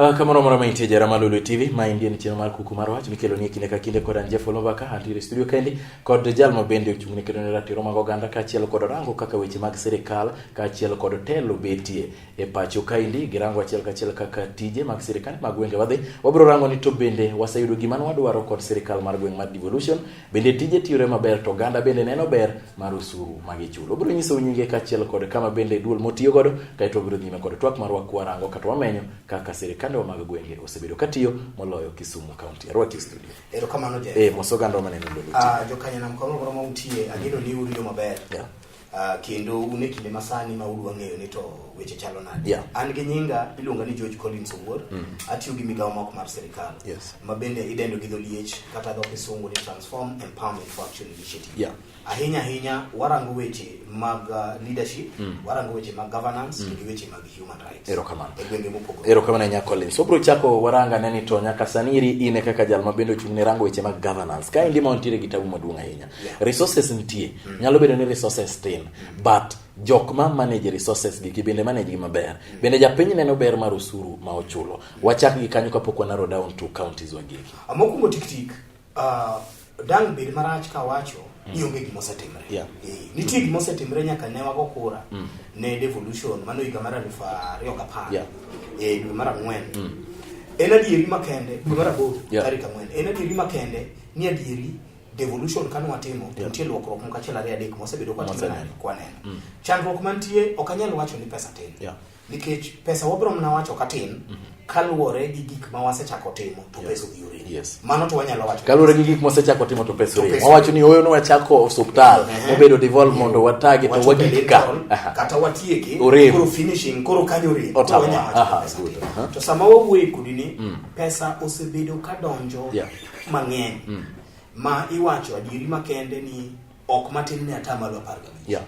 Uh, ah, kamoro moro ma intie jara malulu tv ma indie ni chenro mar kuku mar wach mikelo ni kinde ka kinde kod an jeff olomaka antiere studio kendi kod jal ma bende ochung' ne kedo ne ratiro mag oganda kaachiel kod rango kaka weche mag sirikal kaachiel kod telo betie e pacho kaendi girango achiel kachiel kaka tije mag sirikal mag gwenge wadhi wabiro rango ni to bende waseyudo gima nwadwaro kod sirikal mar gweng' mar devolution bende tije tiyore maber to oganda bende neno ber mar osuru ma gichulo obiro nyisou nyinge kachiel kod kama bende duol motiyo godo kaeto obiro nyime kod twak marwa kwarango kata wamenyo kaka sirikandewa mag gwenge osebedo katiyo moloyo kisumu kaunti arwaki e studio erokamano je e eh, mosoganda maneno lolo ah, jokanyanamkono goro mautie agedo ni uriyo maber yeah. Uh, kendo un e kinde masani ma udwa ng'eyo ni to weche chalo nade yeah. an gi nyinga iluonga ni george collins owuor mm -hmm. atiyo gi migawo moko mar sirikal yes. ma bende idendo gi dholiech kata dho kisungu ni transform empowerment for action initiative yeah. ahinya ahinya warango weche mag uh, leadership mm. warango weche mag governance mm. to gi weche mag Erokamano. E Erokamano nya Collins. Obro chako waranga neni to nyaka saniri ine kaka jal ma bende ochung' ne rango weche mag governance. Ka endi ma wantiere gi tabu maduong' ahinya. Yeah. Resources nitie. Mm. Nyalo bedo ni resources tin. Mm. But jok ma manage resources gi gi bende manage gi maber mm. bende japiny neno ber mar osuru ma ochulo mm. wachak gi kanyo kapok wanaro down to counties wagegi amokumo tiktik Uh, dang' bed marach ka wacho mm. ni onge gima osetimre. Yeah. E, nitie gima osetimre nyaka ne wago kura mm. ne devolution mano higa mar aluf ariyo gapar yeah. e, dwe mar ang'wen mm. en adieri makende dwe mar aboro yeah. tarik ang'wen en adieri makende ni adieri devolution kane watimo yeah. nitie luokruok moko achiel ariyo adek mosebedo kwatimnani kwaneno mm. chandruok mantie ok anyal wacho ni pesa tin yeah. Nikech pesa wabro mna wacho katin mm -hmm. kaluwore gi gik ma wasechako timo to pesa odhi uredi. Yes. Mano to wanyalo wacho. Kaluwore gi gik ma wasechako timo to pesa uredi. Wawacho ni oyo nwachako osuptal, mhm. obedo mm -hmm. devolve mondo watagi to wagik ka. Kata watieki, koro finishing, koro kanyo uredi. Otawa. Aha, good. Uh -huh. To sama wawuoye kudi ni mm. pesa osebedo kadonjo yeah. mang'eny. Mm. Ma iwacho adieri makende ni ok matin ne atamalo apar gabich yeah.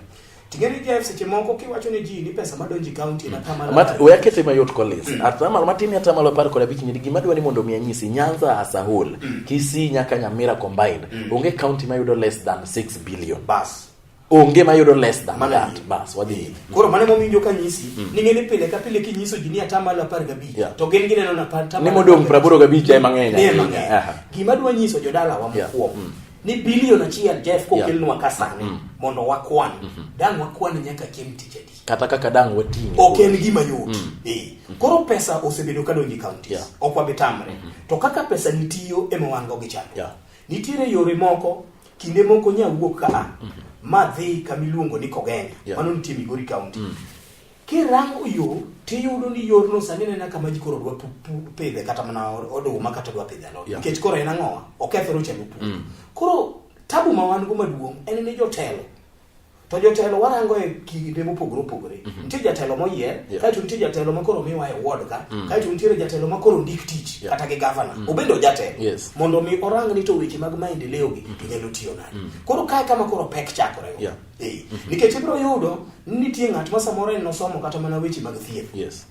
Tingeni Jeff seche moko kiwacho ne ji ni pesa madonji kaunti na tamalo. Mat we akete mayot kolis. Mm. Atamalo matin ya tamalo par kod abich nyiri gima dwani mondo mi anyisi Nyanza as a whole. Mm. Kisii nyaka Nyamira combined. Mm. Onge county mayudo less than 6 billion. Bas onge mayudo less than Mana that bas wadhi eh, koro mane mominjo ka nyisi mm. ni ngene pile ka pile ki nyiso jini ata malo 15 yeah. to gen gine nona pata ni modong 85 e mang'eny ni mang'eny gima dwa nyiso jodala wa mkuom yeah. mm. ni billion achiel jeff kokelnwa yeah. kasani mm. mondo wakwan mm -hmm. dang wakwan nyaka chieng tich adi kata kaka dang wating ok en gima yot mm. e. mm -hmm. koro pesa osebedo ka donjo e counties yeah. ok wabi tamre mm -hmm. to kaka pesa nitiyo ema wan go gi chando yeah. nitiere yore moko kinde moko nya wuok ka mm -hmm. ma dhi kama iluongo ni kogenya yeah. mano nitie migori county mm -hmm. Kirango yo tiyudo ni yorno sani nena kama ji koro dwa pidhe kata mana oduma kata dwa pidhe alot yeah. nikech koro en ang'owa okethore ochendo pur mm. koro tabu ma wan go maduong' en ni jotelo to jotelo warango e kinde mopogore opogore mm -hmm. nitie jatelo moyier yeah. kaeto nitie jatelo ma koro miwa e ward ka mm. kaeto nitiere jatelo ma koro ndik tich yeah. kata gi gavana mm. obende ojatelo yes. mondo mi orang ni to weche mag maendeleo gi mm. inyalo tiyo nade mm. koro kae kama koro pek chakore yeah. Ee. Mm -hmm. Nikech ibiro yudo nitie ng'at ma samoro en nosomo kata mana weche mag thieth. Yes.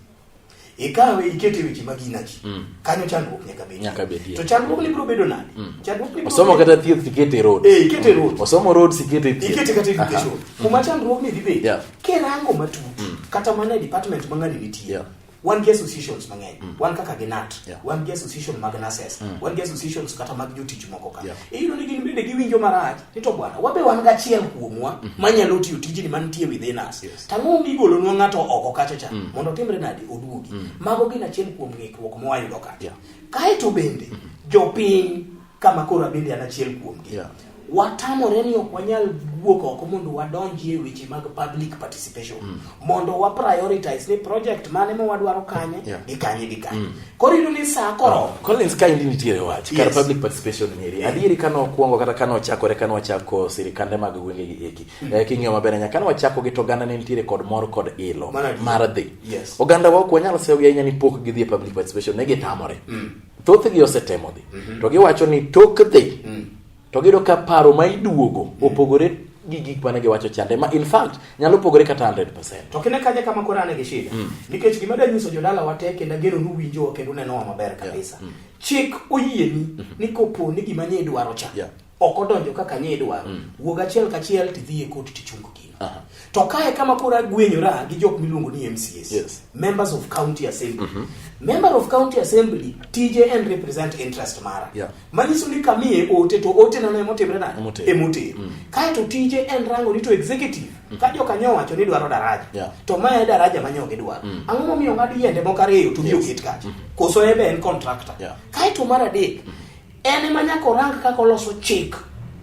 Ikawe ikete weche mag inaji. Mm. Kanyo chandruok nyaka bedi. Nyaka bedi. To chandruok ni biro bedo nani? Mm. Chandruok ni osomo kata thieth ikete road. Eh, ikete road. Mm. Osomo road ikete thieth. Ikete kata education. Kuma chandruok ni dhi bedi. Yeah. Kirango matut. Mm. Kata mana department mang'ani nitie. Yeah. wan gi associations mang'eny mm. wan kaka gi nat yeah. wan gi association mag nurses mm. wan gi associations kata mag jotich moko ka yeah. iyudo ni gin bende giwinjo marach ni to bwana wabe wan gachiel kuomwa mm -hmm. manyalo tiyo tijni mantie within us yes. tang'o migolo nwa ng'ato oko kacha cha mm. mondo timre nadi oduogi mm. mago gin achiel kuom ng'ikruok mwayudo kacha yeah. kaeto bende mm -hmm. jopiny kama koro abende an achiel kuomgi yeah. watamore ni ok wanyal wuok oko mondo wadonji e weche mag public participation mm. mondo wa prioritize ni project mane ma wadwaro kanye yeah. gi kanye gi kanye mm. koro iyudo ni saa koro oh, Collins ka indi nitiere wach yes. kar public participation nyeri yeah. adieri kane okwongo kata kane ochakore kane wachako sirikande mag gwenge gi eki mm. eh, king'iyo maber anya kane wachako gi to oganda ne nitiere kod mor kod ilo mar dhi yes. oganda wa ok wanyal sewo gi ahinya ni pok gidhi e public participation ne gitamore mm. thothgi osetemo dhi mhm. to giwacho ni tok dhi mm. to giyudo ka paro ma iduogo mm. opogore gi gik mane giwacho chande ma in fact nyalo pogore kata 100%. To kine kaje kama kora ne gi shida. Mm. Nikech gima da nyiso jodala wate kendo gero nu winjo kendo neno maber kabisa. Yeah. Mm. Chik oyieni mm -hmm. ni kopo ni gima nye idwaro cha. Yeah. ok odonjo kaka nye idwaro mm. wuog achiel kachiel tidhi e koti tichungo gino uh -huh. to kae kama koro agwenyora gi jok miluongo ni mcs yes. members of county assembly mm -hmm. member of county assembly tije en represent interest mara yeah. manyiso ni kamiye ote to ote nano emotimre na emote mm. kae to tije en rango ni to executive mm. ka joka nyo wacho ni dwaro daraja yeah. to mae daraja manyo gi dwaro mm. ang'o momiyo ng'ad yiende moko ariyo to yes. oket kacha mm -hmm. koso ebe en contractor yeah. kae to mar adek mm -hmm en ema nyaka orang kaka oloso chik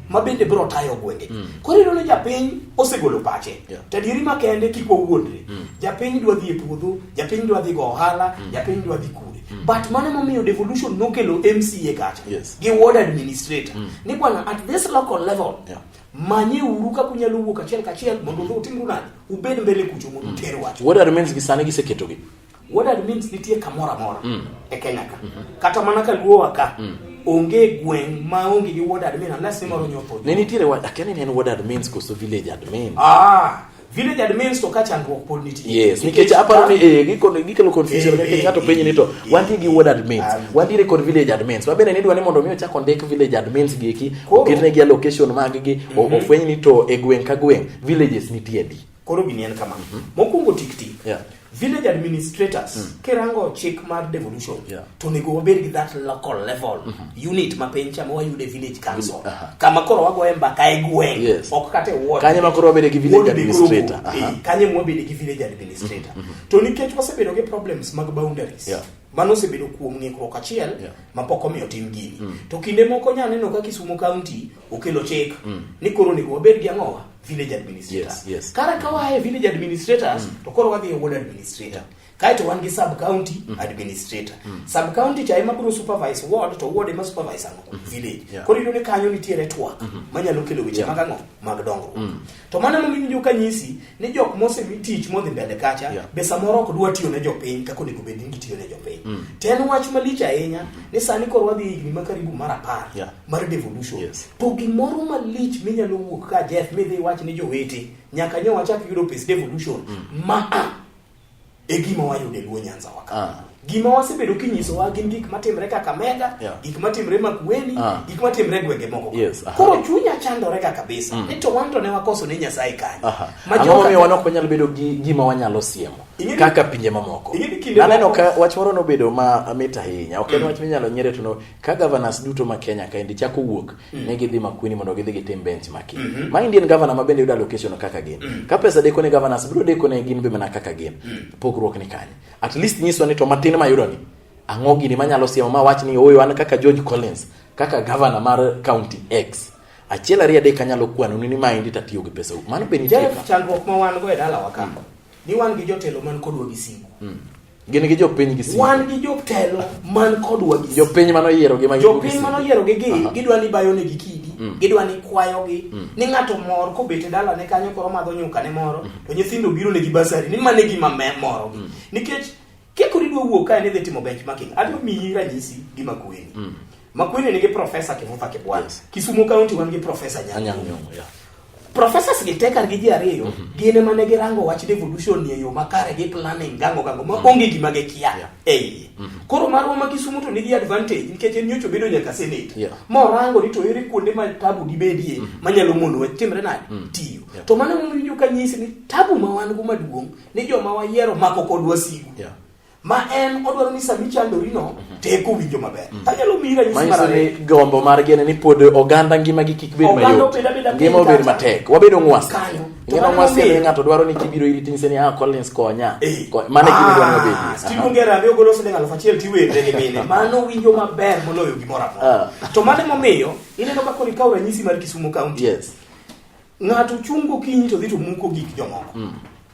ma bende biro tayo gwenge mm. koro ineno japiny osegolo pache yeah. tadieri makende kik wawuondre mm. japiny dwa dhi e puodho japiny dwa dhi go ohala mm. japiny dwa dhi kure mm. but mano momiyo devolution nokelo mca kacha yes. gi ward administrator mm. ni bwana at this local level yeah manye uru kaka unyalo wuok achiel kachiel mondo mm. utimru nadi ubed mbele kucho mondo mm. uter wach what remains gi sani giseketogi What that means nitie kamoro amora mm. e Kenya ka. Mm -hmm. Kata mana ka luo waka. Mm. Onge gweng ma onge gi ward admin unless mm. moro nyotho. Ne nitiere ward akene ne ward admins koso village admin. Ah, village admins to ka chandruok pod nitie. Yes, nikech aparo ni eh gikon gikelo confusion eh, nikech ato eh, penye ni to eh, wantie gi ward admins, ah, wantie kod village admins. Wabene ni dwani mondo mi ochak ondik village admins gi eki, oketne gi allocation mag gi, mhm. ofweny ni to e gweng ka gweng villages nitie di. Koro gini en kama. Mhm. Mokwongo tik tik. Yeah. Village administrators mm. kirango chik mar devolution yeah. to nego wabed gi that local level mm -hmm. unit ma piny cha wayude village council uh -huh. kama koro wagoye mbaka e gweng yes. ok kata e ward kanye ma koro wabede gi village administrator uh -huh. e, kanye ma wabede gi village administrator mm -hmm. to nikech wasebedo gi problems mag boundaries yeah mano osebedo kuom ng'ikruok achiel yeah. mapok omiyo tim gini mm. to kinde moko nyaneno ka Kisumo County okelo chik mm. ni koro onego wabed gi ang'owa village administrator yes, yes. kara ka wae village administrators mm. to koro wadhi e ward administrator yeah. kaeto wan gi sub county mm. administrator mm. sub county cha ema biro supervise ward to ward ema supervise ang'o mm -hmm. village yeah. koro iyudo ni kanyo nitiere twak mm -hmm. manyalo kelo weche yeah. mag ang'o mag dongruok mm. to mano ema miwinjo ka nyisi ni jok mose tich modhi mbele kacha yeah. be samoro ok dwa tiyo ne jopiny kaka onego bed ni gitiyo ne jopiny mm. to en wach malich ahinya mm. ni sani koro wadhi higni ma karibu mar apar yeah. mar devolution yes. to gimoro malich minyalo wuok ka Jeff midhi iwach ni jowete nyaka nyo wachak yudo pes devolution mm. ma a e gima wayudo e Luo Nyanza waka ah. gima wasebedo kinyisowa gin gik matimre Kakamega yeah. gik matimre Makueni ah. gik matimre gwenge moko yes. koro chunya chandore ka kabisa mm. ni to wan to ne wakoso ne Nyasaye kanyo ang'o miyo wan ok wanyal bedo gi gima wanyalo siemo kaka pinje mamoko naneno ka wach moro nobedo ma mit ahinya ok en mm. wach minyalo nyere to ka governors duto ma Kenya kaendi chako wuok mm. ne gidhi Makueni mondo gidhi gitim bench maki mm -hmm. ma Indian governor ma bende yudo allocation kaka gin mm. ka pesa deko ne governors biro deko ne gin be mana kaka gin mm. pogruok ni kanye at least nyiso ni to matin ma yudo ni ang'o gini manyalo siemo ma wach ni oyo an kaka George Collins kaka governor mar county X achiel ariyo adek anyalo kwano ni ma endi tatiyo gi pesa mano be nitie chandruok ma wan go e dalawa ka mm. ni wan gi jotelo man kodwa gi sigu mm. Gin gi jopiny gi siko. Wan gi jotelo man kodwa gi Jopiny mano yiero gi magi. Jopiny mano yiero gi gi gidwa ni bayo ne gi kidi. Mm. Gidwa ni kwayo gi mm. ni ng'ato mor kobete dala ne kanyo koro madho nyuka ne moro mm. to nyithindo biro ne gi basari ni mane gi mame moro gi. Mm. Nikech kekori dwa wuok kae ni dhi timo benchmarking. Adwa miyi ranyisi gi makueni. Mm. Makueni nigi profesa Kivuva Kibwana. Yes. Kisumu County wan gi profesa Nyanyang' Nyong'o. Yeah. Professors gi tekar gi ji ariyo mm -hmm. gin ema ne girango wach devolution ni e yo makare gi planning gango gango ma mhm. onge gima gikia yeah. ei mm -hmm. koro marwa ma Kisumu to nigi advantage nikech en nyocho bedo nyaka senate yeah. ma orango ni to ere kuonde ma tabu dibedie mm -hmm. manyalo mono wach timre nade mm -hmm. tiyo yeah. to mano momiyo ka nyisi ni tabu ma wan go maduong' ni joma wayiero mako kodwa sigu yeah. ma en odwaro ni sama ichandorino mhm. teko winjo maber mhm. tanyalo miyi ranyisi mar ariyo gombo margi en ni pod oganda ngimagi kik bed mayot ngima obed matek wabedo ng'was ngima ng'was kendo ng'ato dwaro ni kibiro iri tinyise ni ah Collins konya eh. mane gima dwaro ni obedi ah, Steve Ngera abe ogolo siling aluf achiel tiwende ni mine mano winjo maber moloyo gimoro amora ah. to mano emomiyo ineno ka koro ikawo ranyisi mar Kisumu County yes ng'ato chung' gokinyi to dhi to muko gik jomoko mm.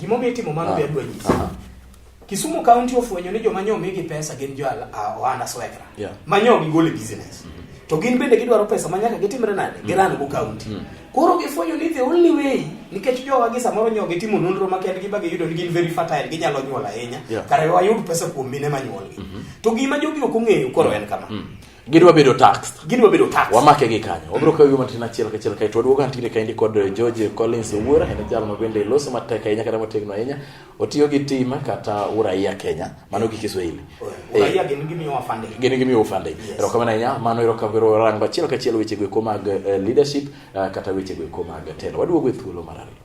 Gima omiyo itimo mano be ah, adwa nyisi. Ah. Kisumu County ofwenyo ni joma nyoo migi pesa gin jo ah, ohanda swekra. Yeah. Manyo gigol e business. Mm -hmm. To gin bende gidwaro pesa ma nyaka gitimre nade? Mm -hmm. Giran go county. Mm -hmm. Koro gifwenyo ni the only way nikech jowa gi samoro nyoo gitimo nonro ma kendgi ba giyudo ni gin very fertile ginyalo nyuol ahinya. Yeah. Kare wayud pesa kuom mine ma nyuolgi. Mm -hmm. To gima jogi ok ong'eyo koro en kama. Mm -hmm. gidwa bedo taxed gidwa bedo taxed wamake gi kanyo wabiro kawo gima tin achiel kachiel kae to waduogo antigre kaendi kod eh, George Collins Owuora en jal ma bende loso matek ahinya kata motegno ahinya otiyo gi tim kata uraia Kenya mano gi Kiswahili uraia eh, gin gimiyo wafande gin gimiyo wafande ero kama ahinya mano ero kabiro rango achiel kachiel weche go mag eh, leadership kata weche go mag telo waduogo e thuolo mar ariyo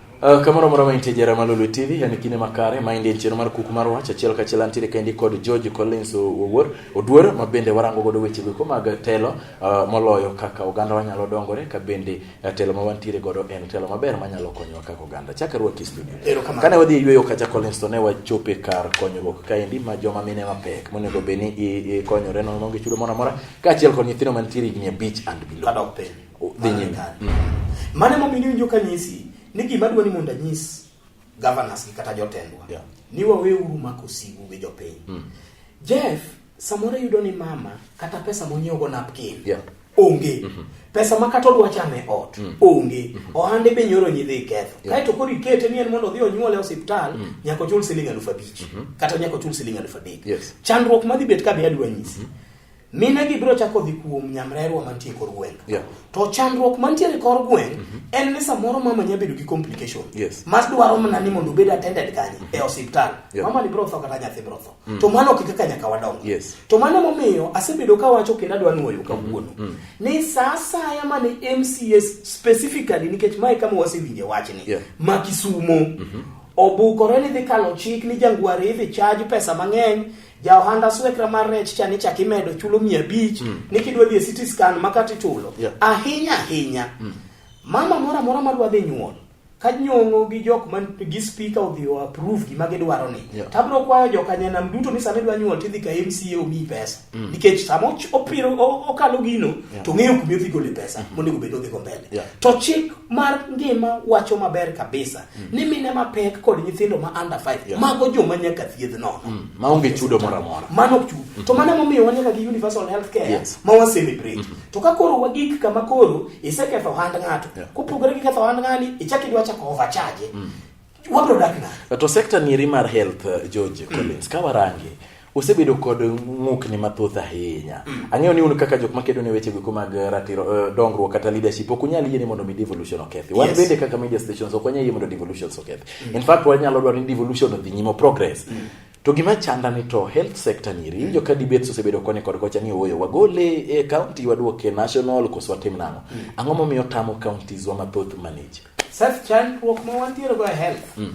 Uh, kamoro moro ma intie jara malulu tv yani kine makare ma indie chiro mar kuku mar wach achiel ka achiel antiere kendi kod george collins owuor oduor ma bende warango godo weche go mag telo uh, moloyo kaka oganda wanyalo dongore ka bende uh, telo ma wantiere godo en telo maber manyalo konyowa kaka oganda chaka ruoki studio kane wadhi e yueyo kacha collins to ne wachope kar konyruok kaendi ma joma mine mapek monego bed ni ikonyore nono gi chudo moro amora ka achiel kod nyithindo mantiere higni abich and below mane momiyo iwinjo ka nyisi ni gima dwa ni mondo anyis governors gi kata jotendwa yeah. ni wawe uru mako sigu gi jopiny mm. Jeff samoro yudo ni mama kata pesa monyiewo go napkin yeah. onge mm -hmm. pesa ma kata odwa chame ot mm. onge mm -hmm. ohande be nyoro nyidhi iketho yeah. kaeto koro ikete ni en mondo odhi onyuole osiptal mm. nyako chul siling alufu abich mm -hmm. kata nyako chul siling alufu adek yes. chandruok madhi bet ka be adwa nyisi mm -hmm minegi biro chako dhi kuom nyamrerwa mantie kor gweng yeah. to chandruok mantiere kor gweng mm -hmm. en ni samoro mama nya bedo gi complication yes. mas dwaro mana ni mondo obed attended kanye mm -hmm. e osiptal yeah. mama ni biro tho kata nyathi biro tho mm -hmm. to mano ok kaka nyaka wadong yes. to mano momiyo asebedo ka wacho kendo adwa nuoyo mhm. kawuono mm -hmm. ni saa asaya mane mcs specifically nikech mae kama wasewinje wachni yeah. ma kisumo mm -hmm obukore ni dhi kalo chik ni jangwari idhi chaj pesa mang'eny ja ohanda swekra mar rech cha nichak imedo chulo mia abich mm. ni kidwa dhi e city scan ma kata ichulo yeah. ahinya ahinya mm. mama moro amora madwa dhi nyuol ka nyong'o gi jok man gi speaker odhi o approve gima gidwaro ni yeah. tabro kwayo jokanyanam duto ni sama idwa nyuol tidhi ka mca omiyi pesa mm. nikech sama opiro okalo gino yeah. to ng'eyo kuma idhi gole pesa mm -hmm. monego bed odhigo mbele yeah. to chik mar ngima wacho maber kabisa mm. ni mine mapek kod nyithindo ma under 5 yeah. mago joma nyaka thiedh nono mm. maonge chudo moro amora mano ok chudo mm. to mano emomiyo wanyaka gi universal health care yes. ma waselebrate mm -hmm. to ka koro wagik kama koro iseketho ohand ng'ato yeah. kopogore gi ketho ohand ng'ani ichak idwa chako overcharge mm. wabro dak nade to sector nieri mar health uh, George mm. Collins mm. ka warange osebedo kod ng'ukni mathoth ahinya. Mm. Ang'eyo ni un kaka jok makedo ne weche giko mag eh, ratiro uh, dongruok kata leadership ok unyal yie ni mondo mi devolution okethi. Wan yes. bende kaka media stations ok wanyal yie mondo devolution okethi. Mm. In fact wanyalo dwaro ni devolution odhi nyimo progress. Mm. To gima chanda ni to health sector ni ri jo ka debates osebedo koni kod kocha ni oyo wagole e county waduoke national koso watim nango. Mm. Ang'o momiyo tamo counties wa mathoth manage? Seth chandruok ma wantiere go e health. Mm.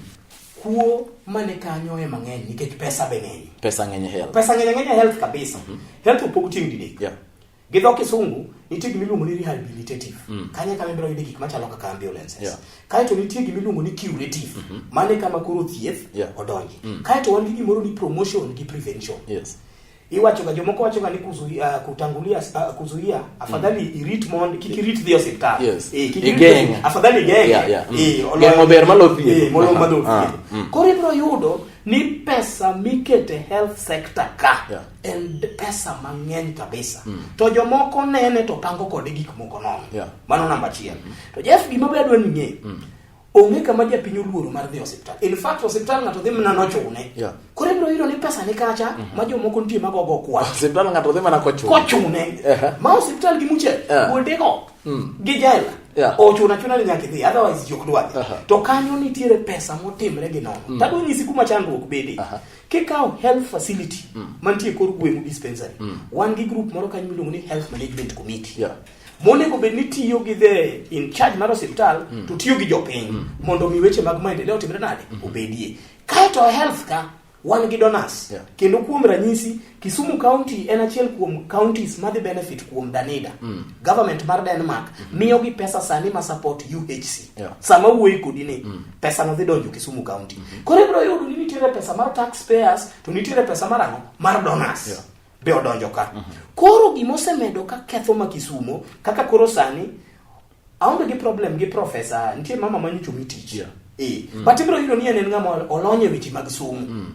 Kuo mane kanyo ema ng'eny nikech pesa be ng'eny. Pesa ng'eny e health. Pesa ng'eny e ng'eny e health kabisa. Mm -hmm. Health opog tieng' didek. Yeah. Gi dho kisungu nitie gima iluongo ni rehabilitative. Mm. Kanyo kama ibiro yude gik machalo kaka ambulances. Yeah. Kae to nitie gima iluongo ni curative. Mm -hmm. Mane kama koro thieth yeah. odonji. Mm. Kae to wan gi gimoro ni promotion gi prevention. Yes. iwacho ga jomoko wacho ga ni kuzuia uh, kutangulia uh, kuzuia afadhali mm. irit mond kiki rit dhio siptal yes. e, kiki rit afadhali genge yeah, yeah. Mm. e, olo, genge ber malothi e, molo uh -huh. malothi uh ah, -huh. mm. kore bro yudo ni pesa mikete health sector ka yeah. and pesa mang'eny kabisa mm. to jomoko nene to pango kode gik moko nono yeah. mano namba achiel mm. to Jeff gima be adwa ni ng'e mm. onge kama japiny oluoro mar dhi osiptal in fact osiptal ng'ato dhi mana nochune yeah. koro ibiro yudo ni pesa ni kacha mm -hmm. ma jomoko nitie magogo kwa osiptal ng'ato dhi mana kochune kochune uh -huh. ma osiptal gi muche yeah. kuondego mm. gi jela yeah. ochuna chuna ni nyaka idhi otherwise jok dwa uh -huh. to kanyo nitiere pesa motimre gi nono mm. tado nyisi kuma chandruok bede uh -huh. kikawo health facility mm. mantie kor gweng'u dispensary mm. wan gi group moro kanyo miluongo ni health management committee yeah. monego bed ni tiyo gi the in charge mar osiptal mm. to tiyo gi jopiny mm. mondo mi weche mag maendeleo otimre nade mm. obedie kaeto health ka wan gi donors yeah. kendo kuom ranyisi Kisumu County en achiel kuom counties madhi benefit kuom Danida mm. government mar Denmark mm -hmm. miyo gi pesa sani ma support UHC yeah. sama wuoyi kodi ni mm. pesa no dhi donjo Kisumu County mm -hmm. koro ibro yudo ni nitiere pesa mar taxpayers to nitiere pesa mar ang'o mar donors yeah. be odonjo ka. Mm -hmm. Koro gima osemedo ka ketho ma Kisumo kaka koro sani aonge gi problem gi profesa nitie mama ma nyocho mi tich. Yeah. Eh. Mm. But ibro yudo ni en ng'ama olonye weche mag somo. Mm.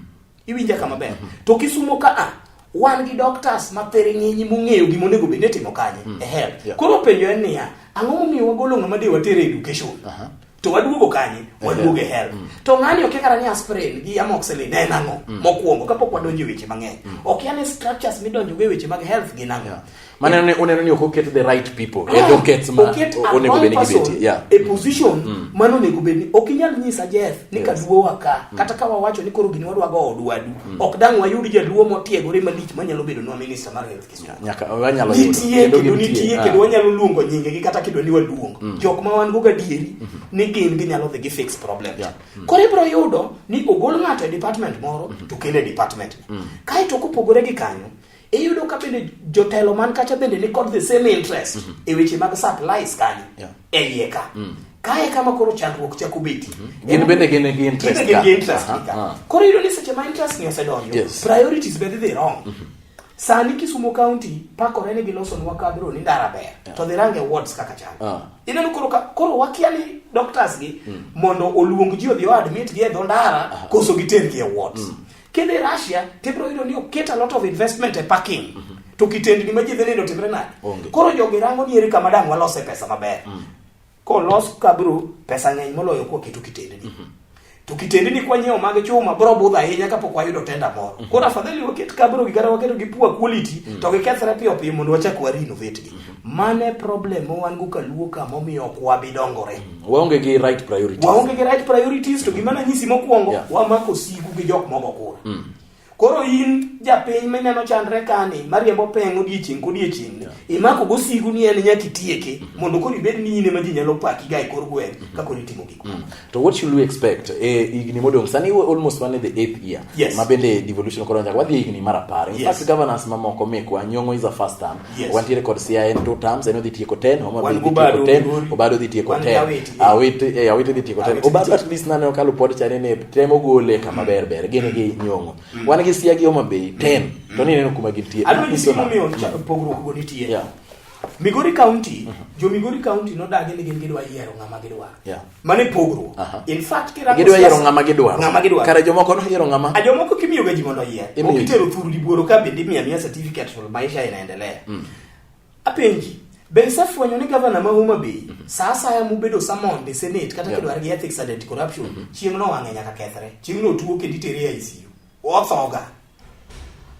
Iwinja kama ber. Mm -hmm. To Kisumo ka a wan gi doctors ma pere ng'enyi mong'eyo gima onego bed ni timo kanye. Mm. E health. Yeah. Koro penjo en niya, ang'o momiyo wagolo ng'ama de watere education? Uh -huh. to waduogo kanye waduogo e hell mm. to ng'ani okia kata ni aspirin gi amoxicillin ne nang'o mm. mokwongo kapok wadonjo e weche mang'eny mm. okia ni structures midonjo go e weche mag health gi nang'o mane ne uneno ni ok oket the right people e docket ma onego bed ni gibeti yeah e position mm. mano onego bed ni ok inyal nyisa Jeff ni yes. kaduo wa ka mm. kata ka wawacho ni koro gini wadwa go odwadu mm. ok dang wayud jaduo motiegore malich manyalo bedo nwa minister mar health nyaka wanyalo nitie kendo nitie kendo ah. wanyalo luongo nyinge gi kata kido ni waduong mm. jok ma wan go gadieri mm -hmm. ni gin ginyalo dhi gi fix problem yeah. mm. koro ibro yudo ni ogol ng'ato e department moro mm -hmm. to kende department mm. kae to kopogore gi kanyo iyudo ka bende jotelo man kacha bende ni kod the same interest mm -hmm. e weche mag supplies kanyo yeah. e iye ka mm. kae kama koro chandruok chako beti mm -hmm. gin bende gin gi interest ka, ka. Uh -huh. koro iyudo ni seche ma interest ni osedonjo yes. priorities bende dhi wrong mm -hmm Sani Kisumo County pakore ni gilosonwa kabro ni ndara ber yeah. to dhirange wards kaka chal uh. Ah. ineno koro koro wakia ni doctors gi mm. mondo oluong ji odhi admit gi e dho ndara uh. koso giter gi e wards mm. kendo e Russia tibro yudo ni oket a lot of investment e parking mm -hmm. to kitendni ma ji dhi nindo timre nade koro jogi rango ni eri kama dang walose pesa maber mm. Kolos kabro pesa ng'eny moloyo kwa keto kitendni. Mm -hmm. To kitendni kwa nyiewo mag chuma bro budha ahinya kapok wayudo tenda moro. Mm -hmm. Koro afadhali waket kabro gi kata waketo gi pua quality mm -hmm. to gikethre piyo piyo mondo wachak wa renovate gi. Mm -hmm. Mane problem ma wan go kaluo ka momiyo ok wabi dongore. Mm -hmm. Waonge gi right priorities. Waonge gi right priorities to gima nanyisi mokwongo yeah. wamako sigu gi jok mogo kura. Mm -hmm. Koro in japiny minyalo chandre kani mariembo peng' odiechieng' kodiechieng' yeah. imako gosigu ni en nyaka itieke mm -hmm. mondo koro ibed ni in ema ji nyalo paki ga e kor gweng' mm -hmm. kakoro itimo gik mm. to what should we expect e higni modong' sani we almost one the eighth year yes. ma bende devolution koro nyaka wadhi e higni mar apar in yes. fact governance mamoko mekwa nyong'o is a first term Yes. wantiere kod sia en two terms en odhi tieko ten homa Wan odhi tieko Obado, ten Migori. obado odhi tieko Wan gi ten Awiti. awiti eh, awiti odhi tieko ten Awiti obado nitie. at least nane okalo pod chane ne temo gole kama ber ber gin gi nyongo wan gi sia gi homa bay ten to ni neno kuma gintie Adwa nyisi Iso na- gimomiyo cha- pogruok go nitie. Yeah. Migori County, jo Migori County nodagi ni gin gidwa yiero ng'ama gidwaro. Yeah. mano e pogruok in fact kirango gidwa yiero ng'ama gidwaro ng'ama gidwaro kare jomoko noyiero ng'ama a jomoko kimiyo ga ji mondo oyier ok itero thuru di buoro ka bende imiya miya certificate to maisha inaendelea mm. apenji be isefwenyo ni gavana ma Homa Bay mm -hmm. saa asaya mubedo samond e senate kata yeah. kidwar gi ethics and anti corruption mm -hmm. chieng' no wang'e nyaka kethre chieng' no tuo kendo itere e ICU othoga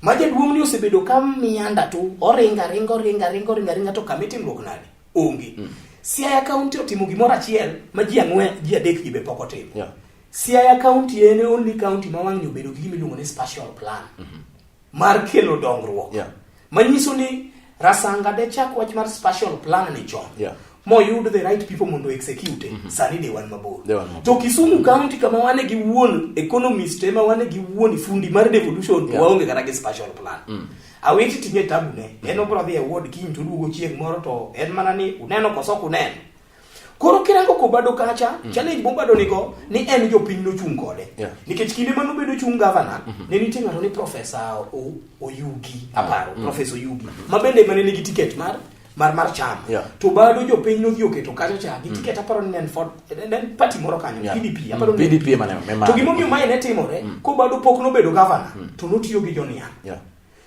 ma jaduong' ni osebedo ka mianda tu oringa ringa oringa ringa oringa ringa to kama itimruok nade Onge. Mm. Siaya County otimo gimoro achiel ma ji ang'wen ji adek gi be pok otimo. Yeah. Siaya County en only county ma wang'ni obedo gi gima iluongo ni spatial plan mm -hmm. mar kelo dongruok. Yeah. Manyiso ni Rasanga de chak wach mar spatial plan ni chon. Yeah. Moyud the right people mondo execute mm -hmm. sani de wan mabor. De wan mabor. To Kisumu County kama wane gi wuon economist ema wane gi wuon fundi mar devolution yeah. waonge kata gi spatial plan. Mm. Awiti tinge tabune, en obro dhi e ward kiny to duogo chieng' moro to en mana ni uneno koso ok uneno. Koro kirango kobado kacha, mm. challenge mobado nigo ni en jopiny nochung' kode. Yeah. Nikech kinde mano bedo chung' governor, mm -hmm. ne nitie ng'ato ni Professor Oyugi, aparo, mm. Professor Oyugi, mm -hmm. ma bende mane nigi ticket mar mar mar chama yeah. to bado jopiny nodhi oketo kacha cha gi mm. tiket aparo ni en ford en party moro kanyo yeah. PDP aparo mm. ni PDP mane mema to gimo miyo maine timore mm. ko bado pok nobedo governor mm. to notiyo gi joniang yeah.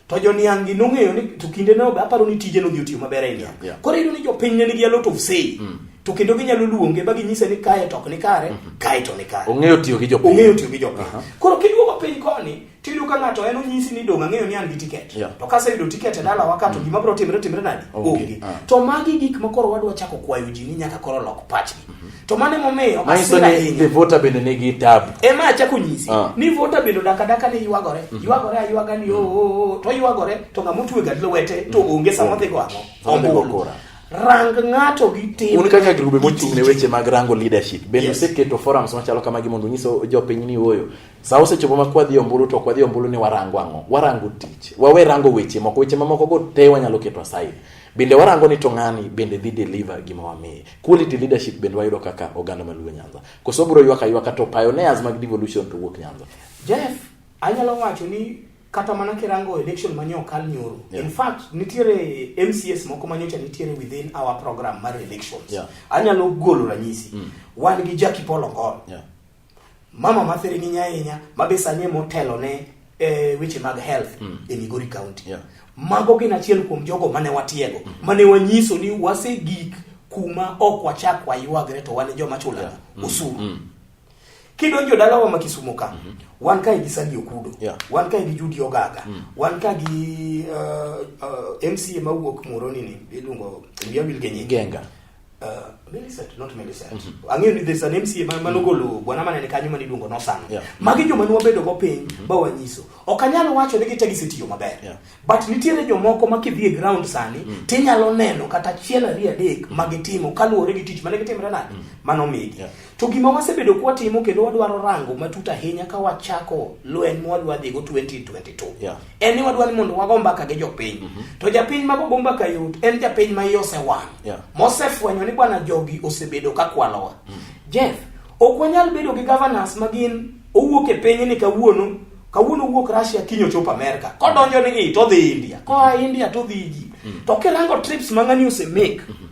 to joniang gi nong'eyo ni to kinde no aparo ni tije nodhi otiyo maber e niang yeah. koro iyudo ni jopiny ne nigi a lot of say mm. to kendo ginyalo luonge ba ginyise ni kae to ok ni kare mm -hmm. kae to ni kare ong'eyo tiyo gi jopiny ong'eyo tiyo gi jopiny uh -huh. koro kiduogo piny koni to iyudo ka ng'ato en onyisi ni dong' ang'eyo ni an gi tiket yeah. to kaseyudo tiket e dalawa ka to mm. gima biro timre timre nadi onge okay. uh. to magi gik ma koro wadwa chako kwayo ji ni nyaka koro lok pachgi mm -hmm. to mano emomiyo asira bende nigi tabu ema achako nyisi uh. ni vota bende dakadaka ni ywagore mm -hmm. ywagore aywaga ni mm -hmm. oo oh, oh, to ywagore to ng'ama otwe gad lwete to mm-hmm. onge sama odhigo ang'o ombulu rang ng'ato gi tim un kaka grube mochung' ne weche mag rango leadership bende yes. useketo forums machalo kamagi mondo unyiso jopiny ni oyo Sa osechopo ma kwadhi ombulu to kwadhi ombulu ni warango ang'o? Warango tich. Wawe rango weche moko, weche mamoko go te wanyalo keto aside. Bende warango ni to ng'ani bende dhi deliver gima wamiye. Quality leadership bende wayudo kaka oganda maluo Nyanza. Koso bro ywaka ywaka to pioneers mag devolution to wuok Nyanza. Jeff, anyalo wacho ni kata mana kirango election ma nyo kal nyoro. Yeah. In fact, nitiere MCS moko ma nyocha nitiere within our program mar elections. Yeah. Anyalo golo ranyisi. Mm. Wan gi Jackie Paul Ongol. Yeah. Mama ma thiring'inya ahinya ma be sani e motelo ne e, weche mag health mm. e Migori County. Yeah. Mago gin achiel kuom jogo mane watiego, mm. mane wanyiso ni wasegik kuma ok wachak waywagre to wan joma chulana yeah. mm. osuru. Mm. Kidonjo dalawa ma Kisumu ka, mm -hmm. wan kae gi Sandi Okudo, yeah. wan kae gi Judy Ogaga, mm. wan kae gi uh, uh, MCA mawuok Muhoroni ni iluongo Mia Wilgenye Genga Uh, Millicent, not Millicent. Mm -hmm. Ang'eyo ni there's an MCA man manogolo mm -hmm. bwana manene kanyo mani duongo nosano. Yeah. Magi joma nwa bedo go piny mm -hmm. ba wanyiso. Ok anyal wacho ni gitegi sitiyo maber. Yeah. But nitiere jomoko ma kidhi e ground sani mm -hmm. tinyalo neno kata achiel ariyo adek mm -hmm. ma gitimo kaluwore gi tich mane gitimre nade mm -hmm. mano migi. Yeah. To gima wasebedo kwa timo kendo wadwaro rango matut ahinya ka wachako lweny mwadwa dhigo 2022. Yeah. en ni wadwa ni mondo wago mbaka gi jopiny mm -hmm. to japiny ma gogo mbaka yot en japiny ma iye osewang' yeah. mosefwenyo ni bwana jogi osebedo ka kwalowa mm -hmm. jeff ok wanyal bedo gi governance ma gin owuok e piny ni kawuono kawuono owuok russia kinyo chopo america kodonjo ni i todhi india koa india todhi ji mm -hmm. to kirango trips ma ng'ani osemake mm -hmm.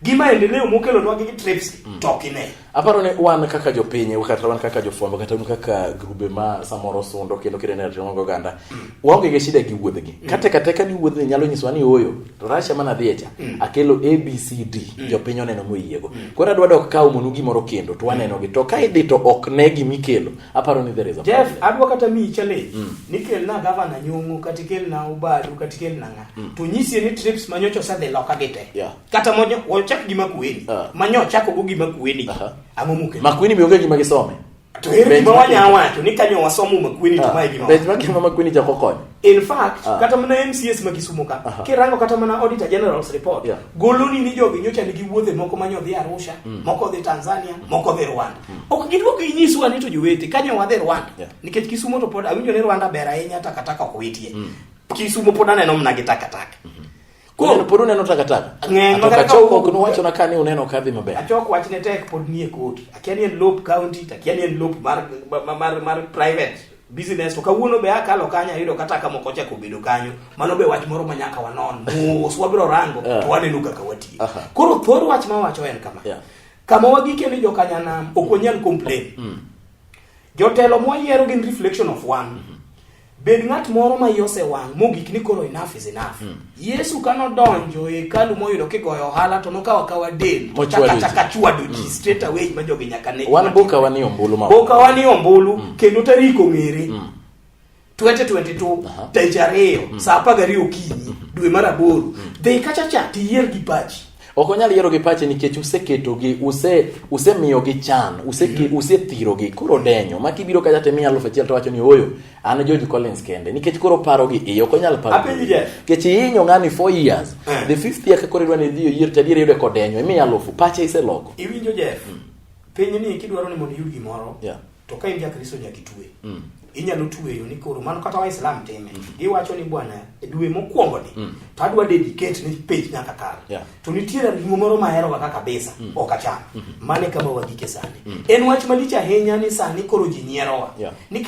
gi maendeleo mokelonwa gi trips mm. to ok ine aparo ni wan kaka jopiny kata wan kaka jofwambo kata un kaka grube ma samoro sundo kendo kirene ratiro go oganda mm. waonge gi shida gi wuodhgi mm. kata kata ka ni wuodhni nyalo nyisowa ni oyo to Russia mana dhie cha mm. akelo ABCD mm. jopiny oneno moyiego mm. koro adwa dok kawo monu gimoro kendo to waneno gi to ka idhi to ok ne gimikelo aparo ni there is a Jeff adwa kata mi challenge mm. nikelna gavana nyongo kata ikelna ubadu kata ikelna Mm. to nyisi ni trips ma nyocha osedhi loka gi te yeah. kata mojo wachak gi makueni uh. Ah. ma nyocha chako gi makueni uh -huh. ang'o mukelo makueni mi onge gima gisome to ere gima wanya wacho ni kanyo wasomo makueni to ah. mae gima bet ma gima makueni jako konyo in fact uh. kata mana MCS ma Kisumu ka uh -huh. kirango kata mana Auditor General's report yeah. goloni ni jogi nyocha nigi wuodhe moko ma nyodhi Arusha mm. moko dhi Tanzania mm. moko dhi Rwanda mm. ok gidwoko inyiswa ni to jowete kanyo wadhi Rwanda yeah. nikech Kisumu to pod awinjo ni Rwanda ber ahinya takataka ok witie mm. Kisumo pod aneno mna gi takataka. Mhm. Koro pod uneno takataka. Ng'eny ma kata choko ok nuwacho na kani uneno ka dhi maber. Achok wach ne tek pod nie koti. Akia ni en lop county, akia ni en lop mar mar mar private business to kawuono be akalo kanyo ayudo kata ka moko chako bedo kanyo mano be wach moro ma nyaka wanon mos wabiro rango to waneno kaka watiyo koro thor wach ma wacho en kama yeah. kama wagike ni jokanyanam ok wanyal complain mm. jotelo mwayiero gin reflection of one mm -hmm. Bed ng'at moro ma yose wang' mogik ni koro enough is enough. Mm. Yesu ka nodonjo e hekalu moyudo kigoyo ohala to nokawa kawa del to chaka chaka chwado ji mm. straight away ma jogi nyaka ne. Wan boka wan ni ombulu ma. Boka wan ni ombulu mm. kendo tarik ong'ere. Mm. 2022 uh -huh. taich ariyo mm. saa apar gariyo okinyi mm. dwe mar aboro mm. dhi kacha cha tiyier gi pachi Ok onyal yiero gi pache nikech useketogi, use usemiyogi chan, useke mm-hmm. usethirogi. Koro denyo, ma kibiro kacha temi aluf achiel to wacho ni oyo, an George Collins kende nikech koro paro gi iyo, ok onyal paro. Apenji yes. Kech ihinyo ngani 4 years. Eh. The fifth year koro idwa ni idhi oyier to adier yude kodenyo, imi aluf, pache iseloko. Iwinjo Jeff. Mm. Piny ni kidwaro ni mondo iyud gimoro. Yeah. to ka in jakristo nyaka itwe mm. inyalo tweyo ni koro mano kata waislam time mm. iwacho ni bwana e dwe mokwongo ni mm. to adwa dedicate ni page nyaka kar yeah. to nitiere ring'o moro mahero kaka kabisa mm. ok acham mm -hmm. mane kama wagike sani mm. en wach malich ahinya ni sani koro ji nyierowa yeah. ni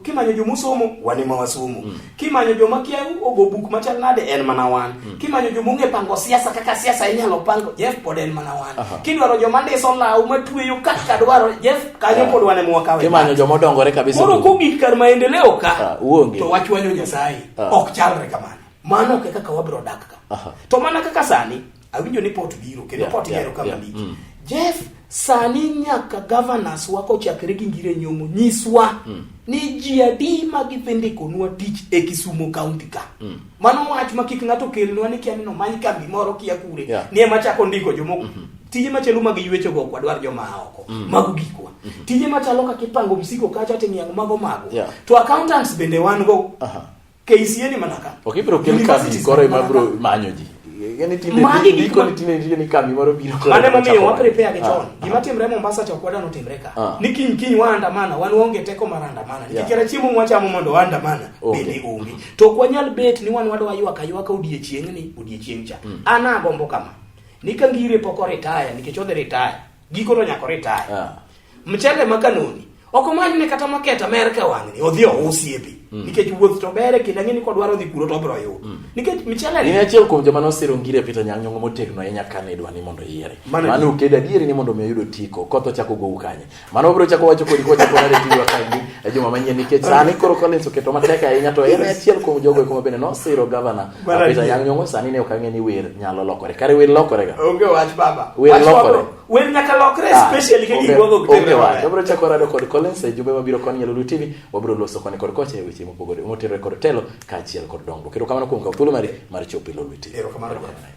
kimanyo jomosomo wane ma wasomo mm. Kimanyo joma kia ogo buk machal nade en mana wan. Mm. Kimanyo joma ong'e pango siasa kaka siasa inyalo pango Jeff pod en mana wan. Uh -huh. Kidwaro joma ndiso law matweyo kaka dwaro Jeff kanyo pod wan ema wakawe. Kimanyo joma odongore kabisa. Moro kogik kar maendeleo ka. Uh, uonge. To wachwanyo Nyasaye. Uh. Ok chalre kamano. Mano kaka wabro dak ka. Uh -huh. To mana kaka sani Awinjo ni pot biro kendo pot yero kama lich. Mm. Jeff sani nyaka governors wa kochakre gi ngire nyong'o nyiswa mm. ni ji adi ma gidhi ndikonwa tich e Kisumo kaunti ka mm. mano wach ma kik ng'ato kelnwa ni kia ni nomany kambi moro kia kure yeah. ni ema chako ndiko jomoko mm -hmm tije machalo mag ywecho go kwa dwar joma oko mm. mago gikwa mm -hmm. tije machalo kaka ipango msiko kacha timiango mago mago yeah. to accountants bende wan go uh -huh. KCA ni mana ka. Ok ibiro kel kambi koro ema biro manyo ji. Magi gik ma tinde nitie ni kambi moro biro koro. Mane momiyo wa prepare gi chon. Ah, Gima ah. timre Mombasa cha kwada no timre ka. Ah. Ni kiny kiny waandamana, wan waonge teko mar andamana. Nikikera chiemo mwachamo mondo waandamana bende onge. To kwa nyal bet ni wan wadwa ywaka ywaka odiechieng' ni odiechieng' cha. Hmm. Ana agombo kama. Ni ka ngire pok oritaya nikech odhi ritaya. Giko to nyako retire. Yeah. Mchele makanoni. Oko mwanyi ne kata maketa Amerika wangni. Odhi ousi ebi. Mm. Nikech wuoth to bere kinda ngini kwa dwaro dhi kuro to bro yo. Mm. Nikech mchele ni. Ni achiel kuom joma nosiro ngire pita nyang nyongo motegno enya kane dwa ni mondo yiere. Mano ukeda diere ni mondo meyudo tiko. Kotho chako go ukanye. Mano bro chako wacho kodi kwa chako nare tiwa kandi. Ejuma manyeni nikech sani koro Collins oketo mateka enya to ena achiel kuom jogo kuma bene nosiro governor Mara Apita adier. yang nyongo sani ne ok ang'e ni wer nyalo lokore. Kare wer lokore ga. Onge wach baba. Wer Wach lokore. wabro- Wer nyaka lokre Ah, especially ka onge- gigwago onge kutere wach. maber. Wabro chako rado kod Collins e jumbe mabiro koni Nyalulu TV. Wabro loso koni kod kocha e weche mopogore motenore kod telo kaachiel kod dongruok. Erokamano kuom kawo thuolo mari mar chopo e Lolwe TV. Erokamano. Erokamano.